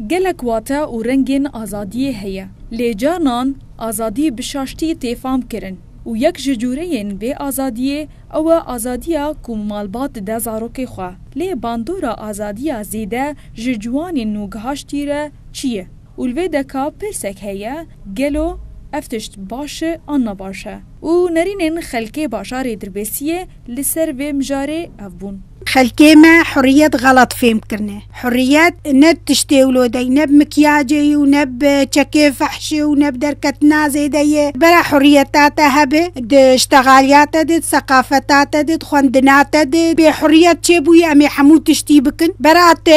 Gelek wate û rengên azadiyê heye. Lê carnan azadî bi şaştî tê fam kirin û yek ji cûreyên vê azadiyê ew e azadiya ku malbat dide zarokê xwe. Lê bandora azadiya zêde ji ciwanên nû gihaştî re çi ye? Û li vê de ka pirsek heye, gelo ev tişt baş e an ne baş e? Û nerînên xelkê bajarê Dirbêsiyê Li ser vê mijarê ev bûn. Xelkê me huriyet xelat fêm kirine. Huriyet ne bi tiştê wlodê yî, ne bi mikyacê yî û ne bi çekê fehşê û ne bi derketina zêde yê. Li bera huriyeta te hebê, di ştexaliya te dê, di seqafeta te dê, di xwendina te dê. Bê huriyet çê bûyî em ê hemû tiştî bikin. Bera tu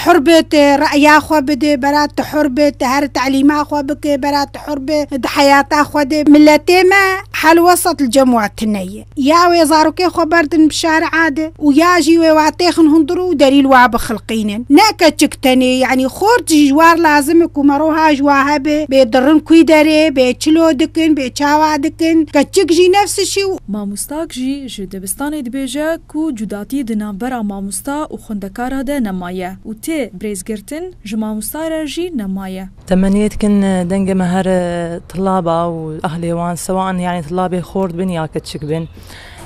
hur bi tu re'ya xwe bidê, bera tu hur bi tu her telîma xwe bikê, bera tu hur bi di heyata xwe dê. Miletê me helwesat li cem we tune ye. Ya wê zarokê xwe berdin bi şari'a de û ya jî wê watêxin hundir û delîl wa bixilqînin. Ne keçik tenê, yanî xort jî ji war lazim e ku meroha ji wa hebe, bê dirin kûy derê, bê çilo dikin, bê çawa dikin. Keçik jî nefsişî. Mamostak jî ji dibistanê dibêje ku cudatî di navbera mamosta û xwendekara de nemaye û tê birêzgirtin ji mamosta re jî nemaye. Temeniyê dikin dengê me her tilaba û ahlê wan sewa in yanî tilabê xort bin ya keçik bin.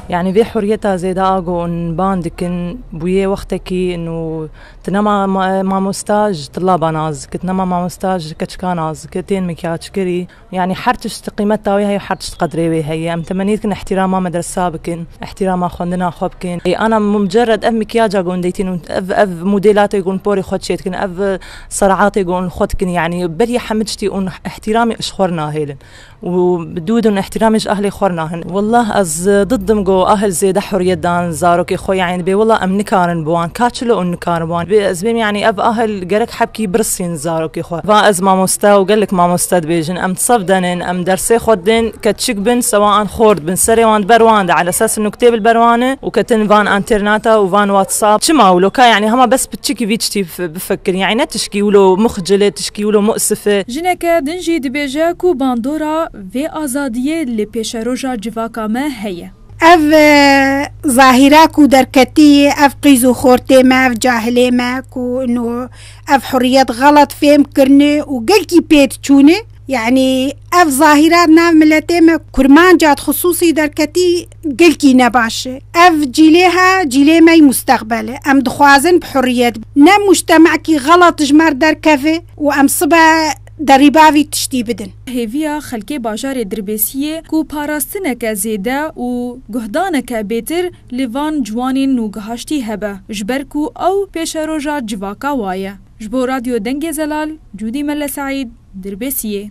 Yanî vê huriyeta zêde a ku in ban dikin bûye wextekî in û tu nema mamosta ji tilaban az dike, tu nema mamosta ji keçikan az dike, tên mikyajkirî. Yanî her tişt qîmeta wê heye û her tişt qedrê wê heye. Em temenî dikin îhtîrama medresa bikin, îhtîrama xwendina xwe bikin. Ana mucerred ev mikyaca ku hûn dîtin û ev ev modêlatê ku hûn porê xwe çêdikin, ev seraatê ku hûn li xwe dikin yanî beriya hemû tiştî hûn îhtîramê ji xwe re nahêlin û bi dû din îhtîramê ji ahlê xwe re nahin. Wallah ez did dim ku ahl zêde huriyet dan zarokê xwe yanî dibê wallah em nikarin bi wan kaçilo hûn nikarin bi wan. Dibê ez bêm yanî ev ahl gerek hebkî birisîn. Zarokê xwe va ez mamoste û gelek mamoste dibêjin em sef denên em dersê xwe didên keçik bin sewa an xor dibin serê wan di ber wan de ele ses nuktê bil ber wan e û ketin van entêrnata û van watsap çima wilo ka yanî hema bes piçikî vî çitî bifekirin yanî ne tişkî wilo muxcil e tişkî wilo musif e. Jineke din jî dibêje ku bandora vê azadiyê li pêşeroja civaka me heye. Ev zahîra ku derketî, ev qîz û xortê me, ev cahilê me ku ino ev hurriyet xelet fêm kirine û gelkî pêt çûne. Yanî ev zahîra di nav miletê me kurmanca di xisûsî derketî gelkî ne baş e. Ev cîlê he, cîlê me yî mustexbel e. Em dixwazin bi hurriyet ne mûctemekî xelet ji mer derkeve û em sibe Derî bavî tiştî bidin. Hêviya xelkê bajarê Dirbêsiyê ku parastineke zêde û guhdaneke bêtir li van ciwanên nûgehaştî hebe ji ber ku ew pêşeroja civaka wa ye. Ji bo Radyo Dengê Zelal, Cûdî Melle Seîd, Dirbêsiyê.